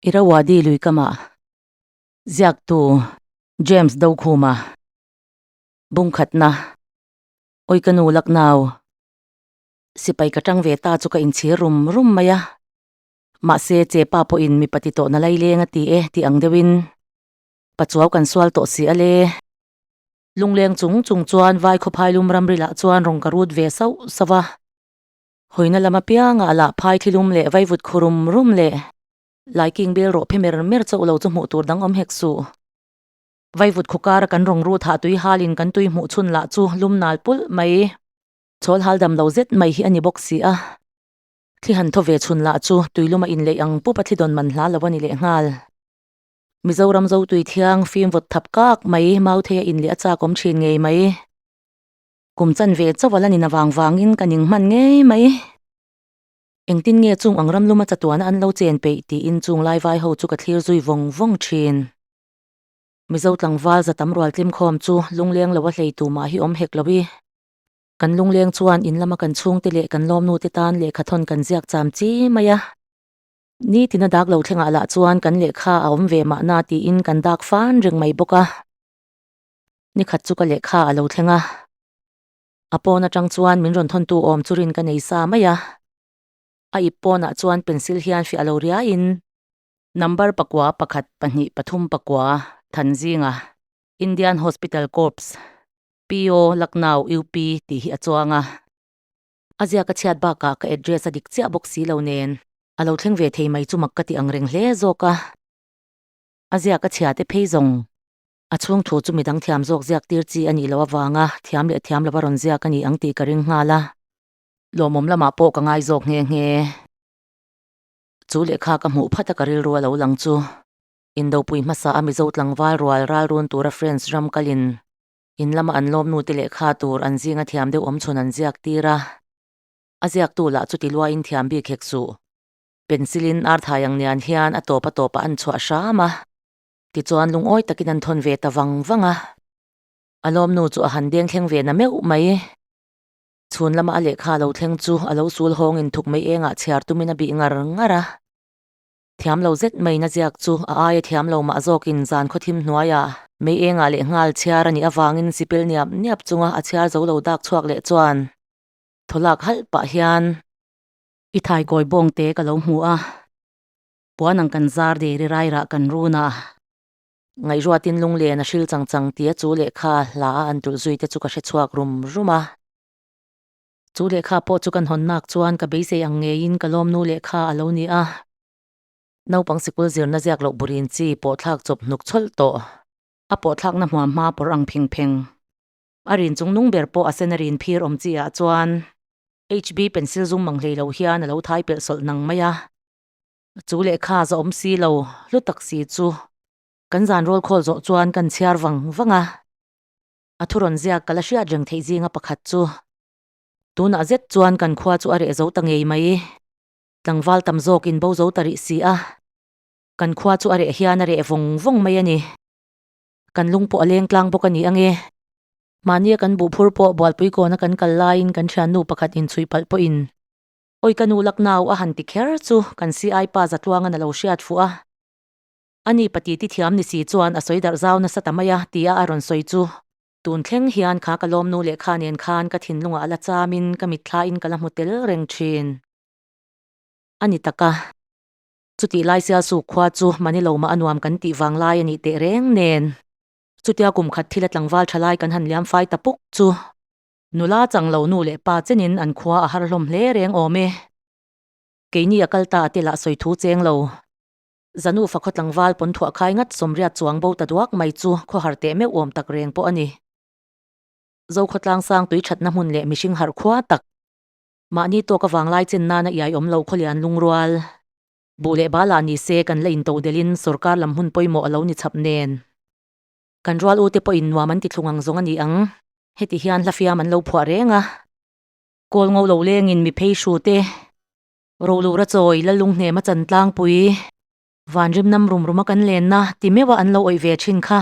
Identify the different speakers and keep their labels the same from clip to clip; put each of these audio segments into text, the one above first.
Speaker 1: Irrawaddy lui kamah ziaktu James Dokhuma bungkhatna awi ka nu Lucknow sipai ka tang ve ta chu ka inchhir rum rum mai a, mahse chepa pawhin mipa ti tawhna lai leng a ti e tih ang deuhin pachuau kan sual tawh si ale. Lungleng chung chung chuan vai khawphai lum ramrilah chuan rawn ka rut ve sauh sauh a. Hawina lam apianga a lah phai thlilum leh vaivut khaw rum rum leh. Lai kingbel rawh phe mer mer chauh lo chu hmuh tur dang awm hek suh. Vaivut khaw kara kan rawng rut hah tui halin kan tui hmuh chhun lah chu lum nal pulh mai. Chawl hal dam lo zet mai hi a ni bawk si a. Thli han thaw ve chhun lah chu tui lum a inleih ang pup a thli dawn man hla lo a ni leh nghal. Mizoram zotui thiang fimvawt thap kak mai, Mauthei a inleh a chakawm thin ngei mai. kum chan ve chauh a la nin avang vangin ka ning hman ngei mai. Engtin nge chung ang ramluma chatuana an lo chen peih tiin chung lai vai ho chu ka thlir zui vawng vawng thin. Mizo tlangval za tam rual tlim khawm chu lungleng lo a hlei tumah hi awm hek lo i. Kan lungleng chuan in lama kan chhungte leh kan lawmnute tan lehkha thawn kan ziak cham chi mai a. Nitin a dak lo thlengah lah chuan kan lehkha a awm ve mahna tiin kan dak fan reng mai bawk a. Nikhat chu ka lehkha a lo thleng a, a pawn atang chuan min rawn thawn tu awm chu rin ka nei sa mai a, a ip pawnah chuan pencil hian fiah lo riaiin. Number pakua pakhat pahnih pathum pakua than zinga Indian Hospital Corps, PO, Lucknow, UP, tih hi a chuang a, a ziak a chhiat bakah ka address a dik chiah bawk si lo nen a lo thleng ve thei mai chu mak ka ti ang reng hle zawk a, a ziak a chhiate phei zawng A chhungthu chu midang thiam zawk ziak tir chi a nih loh avanga thiam leh thiam lova rawn ziak a ni ang tih ka ring nghal a. Lawmawm lamah pawh ka ngai zawk nghe nghe. Chu lehkha ka hmuh phat a ka rilru a lo lang chu. Indopui hmasa a Mizo tlangval rual ralrun tura friends ram kal in in lama an lawmnu te lehkha tur an zinga thiam deuh awmchhun an ziak tir a. A ziaktu lah chu tiluaiin thiam bik hek suh. Pencil in arthai ang nian hian a tawp a tawp a an chhuah hram a. Tichuan lungawi takin an thawn ve ta vang vang a. A lawmnu chu a han beng thleng ve na meuh mai. Chhun lama a lehkha a lo thleng chu a lo sul hawng in thuk mai engah chhiar tumin a bih ngar ngar a. Thiam lo zet mai na ziak chu a aia thiam lo mah zawkin zan khaw thim hnuaia mei engah leh nghal chhiar a nih avangin sipil niap niap chunga a chhiar zo lo dak chhuak leh chuan thaw lak halh pah hian I thaikawibawng te ka lo hmu a. Puan ang kan zar de rirai rah kan run a. Ngaihruatin Lunglen a hril chang chang tia chu lehkha hla a an tulh zui te chu ka hre chhuak rum rum a. Chu lehkha pawh chu ka hnawn nak chuan ka beisei ang ngeiin ka lawmnu lehkha a lo ni a. Naupang sikul zirna ziak loh burin chi pawh thlak chawp hnuk chawlh tawh. A pawh thlakna hmua hma pawr ang pheng pheng. A rin chung nung ber pawh a sen a rin phir awm chi ah chuan HB pencil zum mang hlei lo hian a lo thai pelh sawlh nang mai a. Chu lehkha za awm si lo hlu tak si chu kan zan rawl khawl zawh chuan kan chhiar vang vang a, a thu rawn ziak ka la hriat reng theih zinga pakhat chu tunah zet chuan kan khua chu a reh zo ta ngei mai, tlangval tam zawk in bo zo ta rih si a, kan khua chu a reh hian a reh vawng vawng mai a ni, kan lung pawh a leng tlang bawk a ni ange. Mahnia kan buh phur pawh Bualpui kawna kan kal laiin kan thiannu pakhat inchhuih palh pawhin Awi ka nu Lucknow a han ti kher chu kan CI pa za tluangin a lo hriat fuh a, a ni pati ti thiam ni si chuan a sawi darh zau nasa ta mai a tia a rawn sawi chu. Tun thleng hian kha ka lawmnu leh kha nen khan ka thinlungah a la chamin ka mitthlain ka la hmu tel reng thin a ni tak a, chutih lai Sialsuk khua chu mahni lo mah a nuam kan tih vang lai a nih teh reng nen. Chutia kum khat thil a tlangval tha lai kan han liam fai ta puk chu Nula chang lo nu leh pa chen in an khua a har hlawm hle reng awm e. Kei ni a kal ta a tel ah sawi thu cheng lo. Zanu fakhaw tlangval pawn thuah khai ngat sawmriat chuang bo ta duak mai chu khaw har teh meuh awm tak reng pawh a ni. Zokhua tlang sang tui thatna hmun leh mihring harh khua tak. Mahni tawk a vang lai chen nan a iai awm lo khaw leh an lungrual. Bu leh bala ni se kan la in to del in sorkar lam hmun pawimawh a lo ni chap nen. Kan rual ute pawhin nuam an ti thlung ang zawng a ni ang. Heti hian hla fiam an lo phuah reng a. Kawl ngo lo lengin mi phei hru te, ro lu ra chawi, la lung hnema chan tlangpui, van rim nam rum ruma kan lenna ti meuha an lo awih ve thin kha.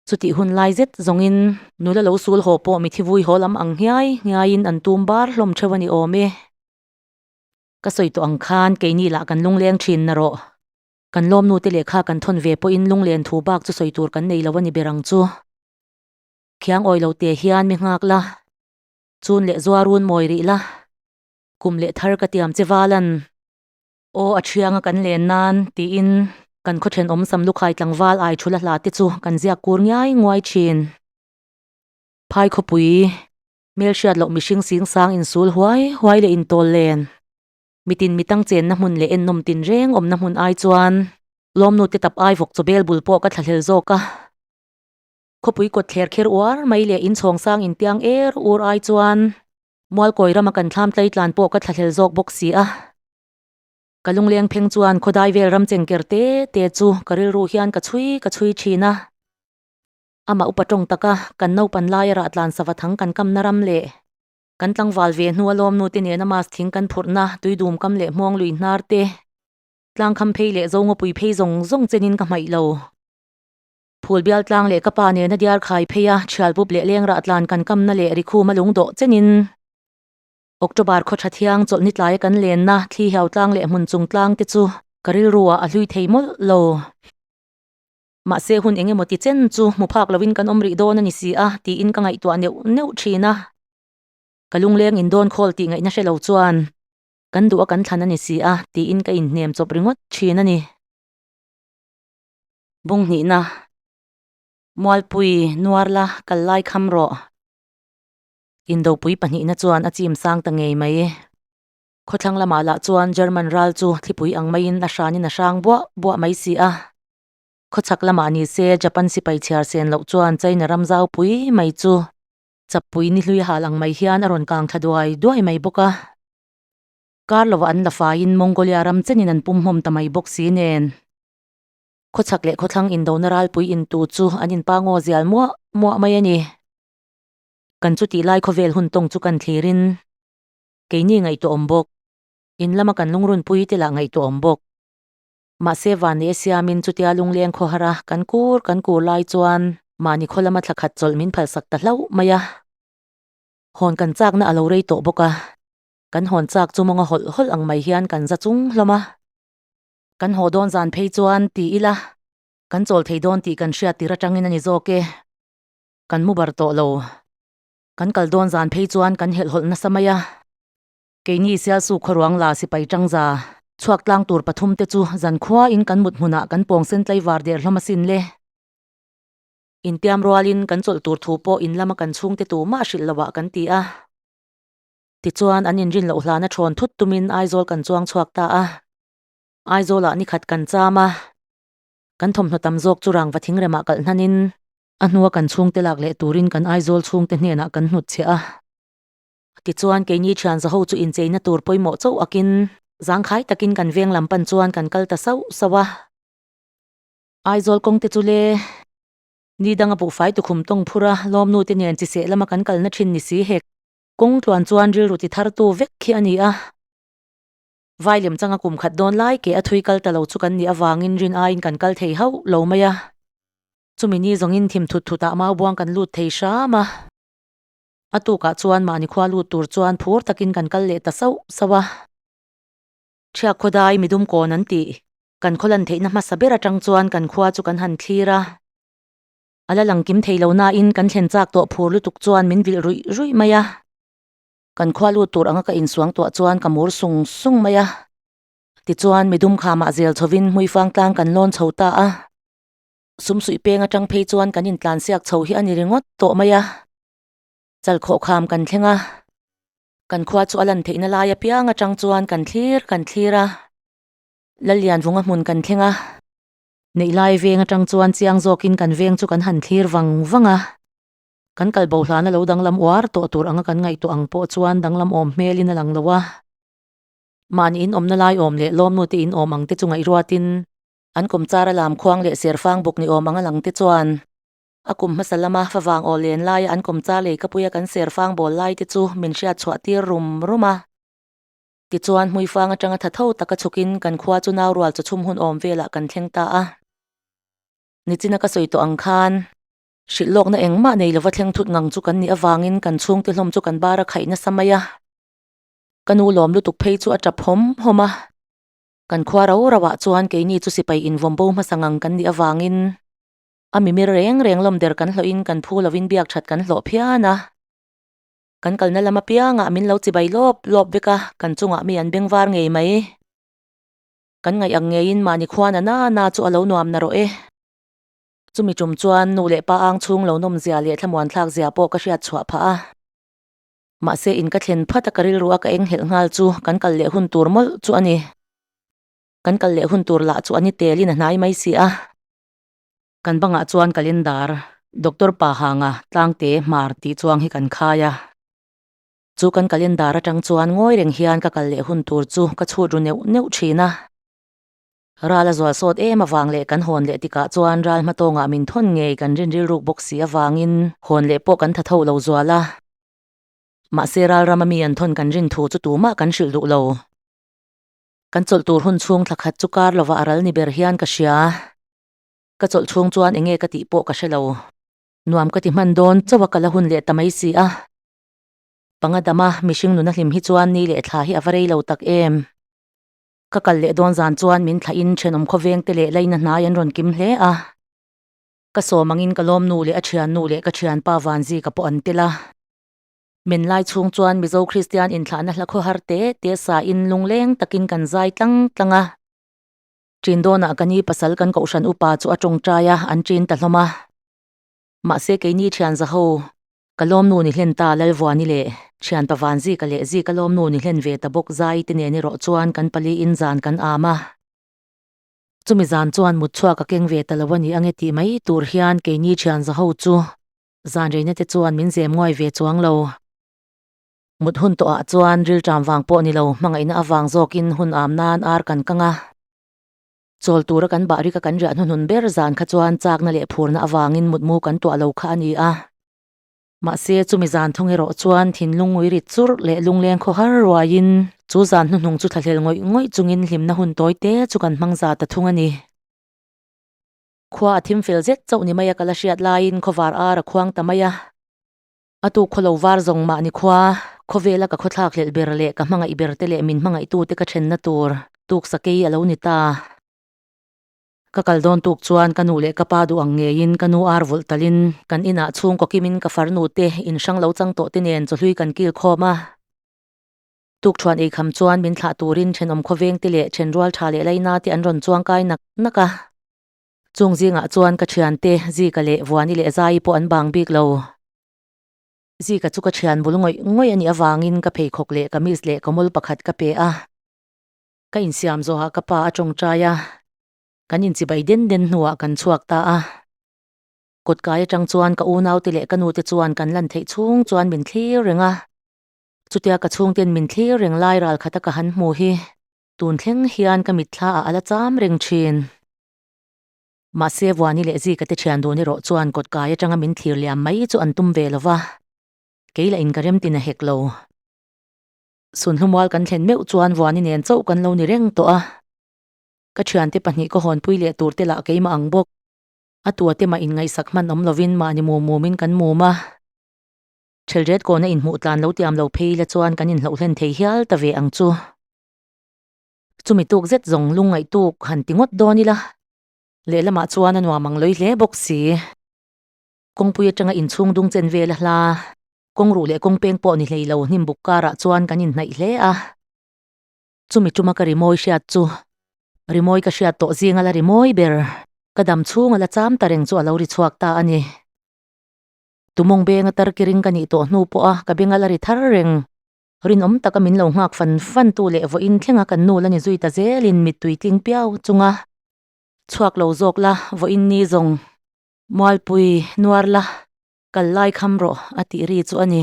Speaker 1: Chutih hun lai zet zawngin. Nu la lo sul haw pawh mithi vui haw lam ang ngiai ngiaiin an tum bar hlawm theuh a ni awm e. Ka sawi tawh ang khan keini lah kan lungleng thinna rawh. Kan lawmnute leh kha kan thawn ve pawhin lunglen thu bak chu sawi tur kan nei lo a ni ber ang chu. Khiang awi lo teh hian mi nghak la, chun leh zua run mawi rih la, kum leh thar ka tiam che val an. Aw a thiang a kan len nan, tiin kan khawthen awmsam lukhai tlangval ai thu la hla te chu kan ziak kur ngiai nguai thin. Phai khawpui, hmelhriat loh mihring singsang insul huai huai leh intawl len, mitin mitang chenna hmun leh ennawm tinreng awmna hmun ai chuan lawmnute tap ai vawk chawbel bul pawh ka thlahlel zawk a, khawpui kawt thler kher uar mai leh in chhawng sang in tiang er ur ai chuan Mualkawi rama kan thlam tlai tlan pawh ka thlahlel zawk bawk si a, ka lungleng pheng chuan khawdai vel ram chengker te te chu ka rilru hian ka chhui ka chhui thin a, amah upa tawng taka kan naupan laia rahtlan sava thang kan kamna ram leh Kan tlangval ve hnua lawmnute nena mask thing kan phurhna, tuidum kam leh hmuang lui hnar te, tlang kham phei leh zo ngawpui phei zawng zawng chenin ka hmaih lo. Phul bial tlang leh ka pa nena diar khai pheia thial pup leh leng rah tlan kan kamna leh ri khuma lung dawh chenin October khaw tha thiang chawlh ni tlaia kan lenna thli hiau tlang leh hmun chung tlang te chu ka rilrua a hlui thei mawlh lo. Mahse hun eng emaw ti chen chu hmu phak lovin kan awm rih dawn a ni si a, tiin ka ngaihtuah neuh neuh thin a. Ka lungleng in dawn khawl tih ngaihna hre lo chuan, Kan duh a kan thlan a ni si a, tiin ka inhnem chawp ringawt thin a ni. Bungnihna, Mualpui nuar la kal lai kham rawh. Indopui pahnihna chuan a chim sang ta ngei mai. Khawthlang lamah lah chuan German ral chu thlipui ang maiin a hranin a hrang buah buah mai si a. Khawchhak lamah ni se, Japan sipai chhiar sen loh chuan China ram zau pui mai chu chapui ni hlui a hal ang mai hian a rawn kang thla duai duai mai bawk a. Kar lova an la faiin Mongolia ram chenin an pumhmawm ta mai bawk si nen, khawchhak leh khawthlang indona ralpui in tu chu an in pangaw zial muah muah mai a ni. Kan chuti lai khawvel hun tawng chu kan thlirin keini ngaihtuah awm bawk, in lama kan lungrun pui te lah ngaihtuah awm bawk. Mahse vani a siamin chutia lungleng khawhara kan kur kan kur lai chuan mahni khawlama thla khat chawlh min phalsak ta hlauh mai a. Hawn kan chakna a lo rei tawh bawk a, kan hawn chak chu mawnga hawlh hawlh ang mai hian kan za chung hlawm a. Kan haw dawn zan phei chuan ti ila kan chawl thei dawn tih kan hriat tir atangin a ni zawk e. Kan mu bar tawh lo. Kan kal dawn zan phei chuan kan helh hawlh nasa mai a. Keini Sialsuk khuaruang la sipai tangza chhuak tlang tur pathum te chu zan khuain kan mut hmunah kan pawng sen tlai var der hlawm asin le. Intiam rualin kan chawlh tur thu pawh in lama kan chhungte tu mah hrilh lovah kan ti a. Tichuan an inrin loh hlana thawn thut tumin Aizawl kan chuang chhuak ta a. Aizawla nikhat kan cham a, kan thawmhnaw tam zawk chu rangva thingremah kalh hnanin. A hnua kan chhungte lak leh turin kan Aizawl chhungte hnenah kan hnutchhiah a. Tichuan, keini thian zaho chu incheina tur pawimawh chauh akin, zangkhai takin kan veng lam pan chuan kan kal ta sauh sauh a. Aizawl kawngte chu le ni danga buhfai tukhum tawng phur a, lawmnute nen chi seh lama kan kalna thin ni si hek. Kawngtluan chuan rilru ti thar tu vek khi a ni a, vai lem changa kum khat dawn lai ke a thui kal ta lo chu kan nih avangin rin aiin kan kal thei hauh lo mai a. Chumi ni zawngin thim thut thutah mau buang kan lut thei hram a. A tukah chuan mahni khua lut tur chuan phur takin kan kal leh ta sauh sauh a. Chhiak khawdai mi dum kawn an tih kan khawlan theihna hmasa ber atang chuan kan khua chu kan han thlir a. A la lang kim thei lo nain kan thlen chak tawh phur lutuk chuan min vilh ruih ruih mai a. Kan khua lut tur anga ka insuang tuah chuan ka mur sung sung mai a. Tichuan mi dum kha mahzel chhovin hmuifang tlang kan lawn chho ta a. Sum suih peng atang phei chuan kan intlansiak chho hi a ni ringawt tawh mai a, chal khawh kham kan thleng a, kan khua chu a lan theihna lai apiang atang chuan kan thlir kan thlir a, la lian vunga hmun kan thleng a, neih lai veng atang chuan chiang zawkin kan veng chu kan han thlir vang vang a, kan kal bohlana lo danglam uar tawh tur anga kan ngaihtuah ang pawh chuan danglam awm hmelin a lang lo a, mahni inawmna lai awm leh lawmnute inawm ang te chu ngaihruatin An kum chara lam khuang leh serfang buk ni awm anga lang te chuan, a kum hmasa lama fa vang aw len laia an kum char lei ka puia kan serfang bawl lai te chu min hriat chhuah tir rum rum a. Tichuan hmuifang atanga tha tho taka chhukin kan khua chu nau rual chu chhum hun awm velah kan thleng ta a. Nichina ka sawi tawh ang khan. Hrilh lawkna engmah nei lova thleng thut ngang chu kan nih avangin kan chhungte hlawm chu kan bara khaih nasa mai a. Ka nu lawm lutuk phei chu a tap hawm hawm a. Kan khua ro roah chuan keini chu sipai invawmbo hmasa ngang kan nih avangin a mimir reng reng lawm der kan hlawhin kan phu lovin biak that kan hlawh phian a. Kan kalna lam apiangah min lo chibai lawp lawp vek a, kan chungah mi an beng var ngei mai. Kan ngaih ang ngeiin mahni khua na na na chu a lo nuam na rawh e. Chumi tum chuan nu leh pa ang chhung lo nawm zia leh thlamuan thlak zia pawh ka hriat chhuah phah a. Mahse in ka thlen phat a ka rilru a ka eng helh nghal chu kan kal leh hun tur mawlh chu a ni. Kan kal leh hun tur lah chu a ni Telin a hnai mai si a. Kan bangah chuan calendar Doctor Pahanga Tlangte hmar tih chuang hi kan khai a. Chu kan calendar atang chuan ngawi reng hian ka kal leh hun tur chu ka chhut ru neuh neuh thin a. Ral a zual sawt em avang leh kan hawn leh tikah chuan ral hma tawngah min thawn ngei kan rinril ruk bawk si avangin hawn leh pawh kan tha tho lo zual a. Mahse ralrama mi an thawn kan rin thu chu tumah kan hrilh duh lo. Kan chawlh tur hun chhung thla khat chu kar lovah a ral ni ber hian ka hria. Ka chawlh chhung chuan enge ka tih pawh ka hre lo. Nuam ka ti hman dawn chauh a ka la hun leh ta mai si a. Pangadama mihring nuna hlim hi chuan ni leh thla hi a va rei lo tak em. Ka kal leh dawn zan chuan min thlai in thenawm khawveng te leh laina hnai an rawn kim hle a. Ka sawm ang in ka lawmnu leh a thiannu leh ka thianpa Vanzika pawh an tel a. Men lai chhung chuan Mizo Kristian inthlahna hla khawhar te te sa in lungleng tak in kan zai tlang tlang a. Chindawnah ka ni pasal kan kohhran upa chu a tawngtai a, an chin ta hlawm a. Mahse keini thianza ho ka lawmnu ni hlen ta Lalvuani leh thianpa Vanzika leh Zika lawmnu ni hlen ve ta bawk Zai te nen erawh chuan kan pali in zan kan am a. Chumi zan chuan mut chhuak ka keng ve ta lo a ni ange tih mai tur hian keini thianza ho chu zanreina te chuan min zem ngawih ve chuang lo. Mut hun tawh ah chuan rilṭam vang pawh ni lo hmangaihna avang zawk in hun am nan ar kan kang a. Chawl tura kan bah rika kan riah hnuhnun ber zan kha chuan chakna leh phurna avangin mutmu kan tuah lo kha a ni a. Mahse, chumi zan thawng erawh chuan thinlungui rit churh leh lungleng khaw har ruaiin chu zan hnuhnung chu thlahlel ngawih ngawih chungin hlimna hun tawi te chu kan hmang za ta thung a ni. Khua a thim fel zet chauh ni mai a ka la hriat laiin khawvar ara khuang ta mai a. A tu khaw lo var zawng mahni khua khawvela ka khawthlak hlelh ber leh ka hmangaih ber te leh min hmangaih tu te ka ṭhenna tur tuk sakei a lo ni ta. Ka kal dawn tuk chuan ka nu leh ka pa duh ang ngeiin ka nu ar vulh tal in kan inah chhungkaw kim in ka far nu te in hrang lo chang tawh te nen chawhlui kan kil khawm a. Tuk ṭhuan ei kham chuan min thlah turin ṭhenawm khawveng te leh ṭhen rual ṭha leh laina te an rawn chuangkai nak nak a. Chung zingah chuan ka thiante Zika leh Vuani leh Zai pawh an bang bik lo. Zika chu ka thian bul ngawih ngawih a nih avangin ka pheikhawk leh kamis leh kawmul pakhat ka pe a. Ka insiam zawhah ka pa a tawngtai a, kan inchibai den den hnuah kan chhuak ta a. Kawtkai atang chuan ka unaute leh ka nute chuan kan lan theih chhung chuan min thlir reng a. Chutia ka chhungten min thlir reng lai ral khata ka han hmu hi Tun thleng hian ka mitthla ah a la cham reng thin. Mahse Vuani leh Zika te thian duhna erawh chuan kawt kai atanga min thlir liam mai chu an tum ve lo va, kei la in ka remtin a hek lo. Sunhlumal kan thlen meuh chuan Vuani nen chauh kan lo ni reng tawh a. Ka thiante pahnih ka hawnpui leh tur te lah keima ang bawk. A tua te mah in ngaihsak hman awm lovin mahni mum mum in kan mum a. Thelret kawna inhmuh tlan lo tiam lo phei ila chuan kan inhloh hlen thei hial ta ve ang chu. Chumi tuk zet zawng lung ngaih tuk han ti ngawt dawn ila. Lehlamah chuan a nuam ang lawi hle bawk si. Kawngpui atanga inchhung dung chen vel a hla. Kawng ruh leh kawng peng pawh ni hlei lo hnim buk karah chuan kan inhnaih hle a. Chumi tuma ka rimawi hriat chu. Rimawi ka hriat tawh zing ala rimawi ber. Ka dam chhunga la cham ta reng chu alo ri chhuak ta a ni. Tumawng benga tarki ring ka nih tawh hnu pawha ka bengal a ri thar reng. Rinawm taka min lo nghak fan fan tu leh vawiin thlenga kan nu la ni zui ta zelin mittui tling piau chunga chhuak lo zawk la vawiin ni zawng mualpui nuar la kal lai kham rawh a tih ri chu a ni.